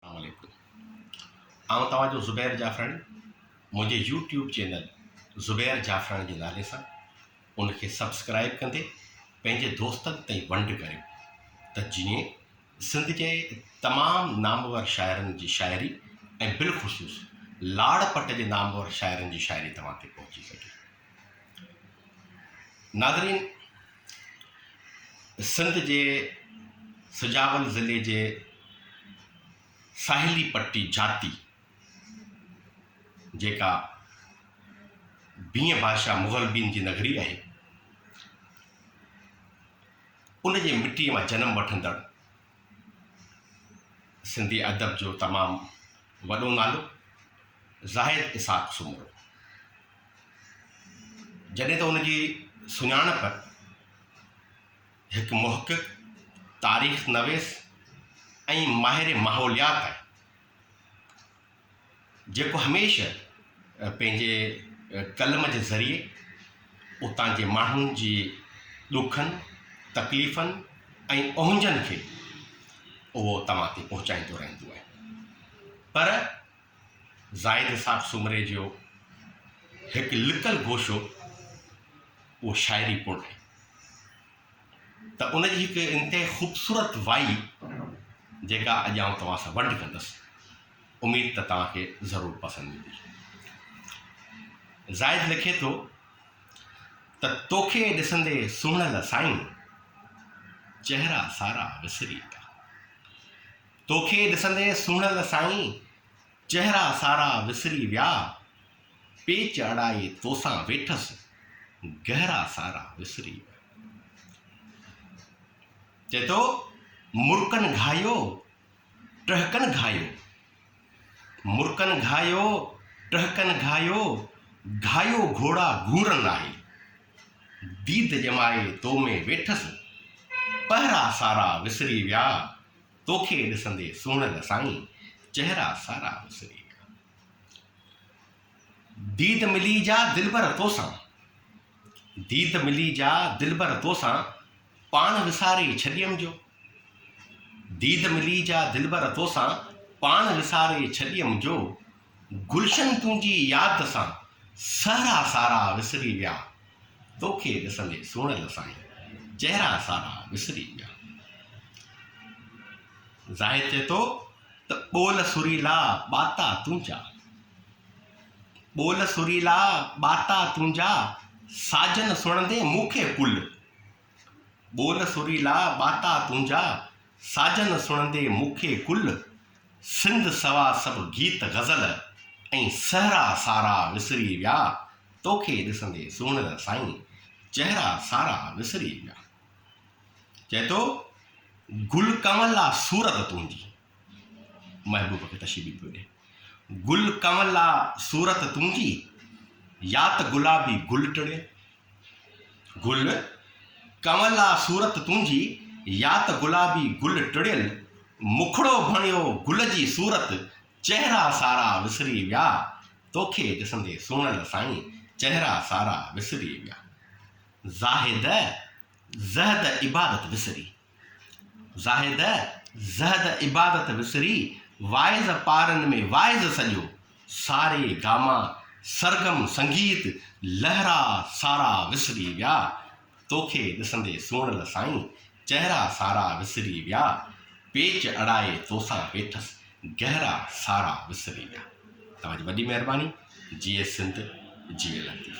اسلام عليڪم آئون توهان جو زبير جعفراڻي منهنجي يوٽيوب چينل زبير جعفراڻي جي نالي سان ان کي سبسڪرائب ڪندي پنهنجي دوستن تائين ونڊ ڪريو ته جيئن سنڌ جي تمام نامور شاعرن جي شاعري ۽ بالخصوص لاڙ پٽ جي نامور شاعرن جي شاعري توهان تائين پهچي سگهي ناظرين سنڌ جي سجاول ضلعي جي ساحلي پٽي جاتي جيڪا بين بادشاهه مغل بين جي نگري آهي ان جي مٽي مان جنم وٺندڙ سنڌي ادب جو تمام وڏو نالو زاهد اسحاق سومرو جڏهن ته ان جي سڃاڻپ هڪ محقق، تاريخ نويس ۽ ماهر ماحوليات آهي، جيڪو هميشه پنهنجي قلم جي ذريعي اتان جي ماڻهن جي ڏکن، تڪليفن ۽ اهنجن کي اهو توهان تي پهچائيندو رهندو آهي پر زاهد اسحاق سومري جو هڪ لڪل گوشو اهو شاعري پڻ آهي ته ان جي هڪ انتهائي خوبصورت وائي جيڪا اڄ آئون توهان سان ونڊ ڪندس اميد ته توهان کي ضرور پسند ايندي زاهد لکي ٿو ته توکي ڏسندي سهڻل سائين چهرا سارا وسري ويا توکي ڏسندي سهڻل سائين، چهرا سارا وسري ويا، پيچ اڙائي توسان ويٺس، گهرا سارا وسري ويا. چئي ٿو مرڪن گهايو، ٽهڪن گهايو، مرڪن گهايو، ٽهڪن گهايو، گهايو گهوڙا گهورن لاهي، ديد ڄمائي تو ۾ ويٺس، پهرا سارا وسري ويا. توکي ڏسندي سهڻل سائين، چهرا سارا وسري ويا. ديد ملي جا دلبر توسان، ديد ملي جا دلبر توسان، پاڻ وساري ڇڏيم جو. ديد ملي جا دلبر توسان، پاڻ وساري ڇڏيم جو. گلشن تنهنجي ياد سان، سهرا سارا وسري ويا. توکي ڏسندي سوڻل سائين چهرا سارا وسري ويا. زاهد چئي ٿو ته ٻول سريلا ٻاتا تنهنجا ٻول سريلا ٻاتا تنهنجا ساجن سڻندي مون کي پل ٻول سريلا ٻاتا تنهنجا، ساجن سڻندي مون کي گل، سنڌ سوا سڀ گيت غزل ۽ سهرا سارا وسري ويا، توکي ڏسندي سونهن سائين، چهرا سارا وسري ويا. چئي ٿو گل ڪنول آ صورت تنهنجي محبوب کي تشبيهه پيو ڏئي گل ڪنول آ صورت تنهنجي يا ته گلابي گل ٽڙي گل ڪنول آ صورت تنهنجي يا ته گلابي گل ٽڙيل مکڙو ڀڻيو گل جي صورت چهرا سارا وسري ويا توکي ڏسندي سونل سائين چهرا سارا وسري ويا زاهد زهد عبادت وسري زاهد زهد عبادت وسري، واعظ پارن ۾ واعظ سڄو، ساري گاما سرگم سنگيت، لهرا سارا وسري ويا، توکي ڏسندي سوڻل سائين، چهرا سارا وسري ويا، پيچ اڙائي توسان ويٺس، گهرا سارا وسري ويا. توهان جي وڏي مهرباني. جيئي سنڌ جيئي لطيف.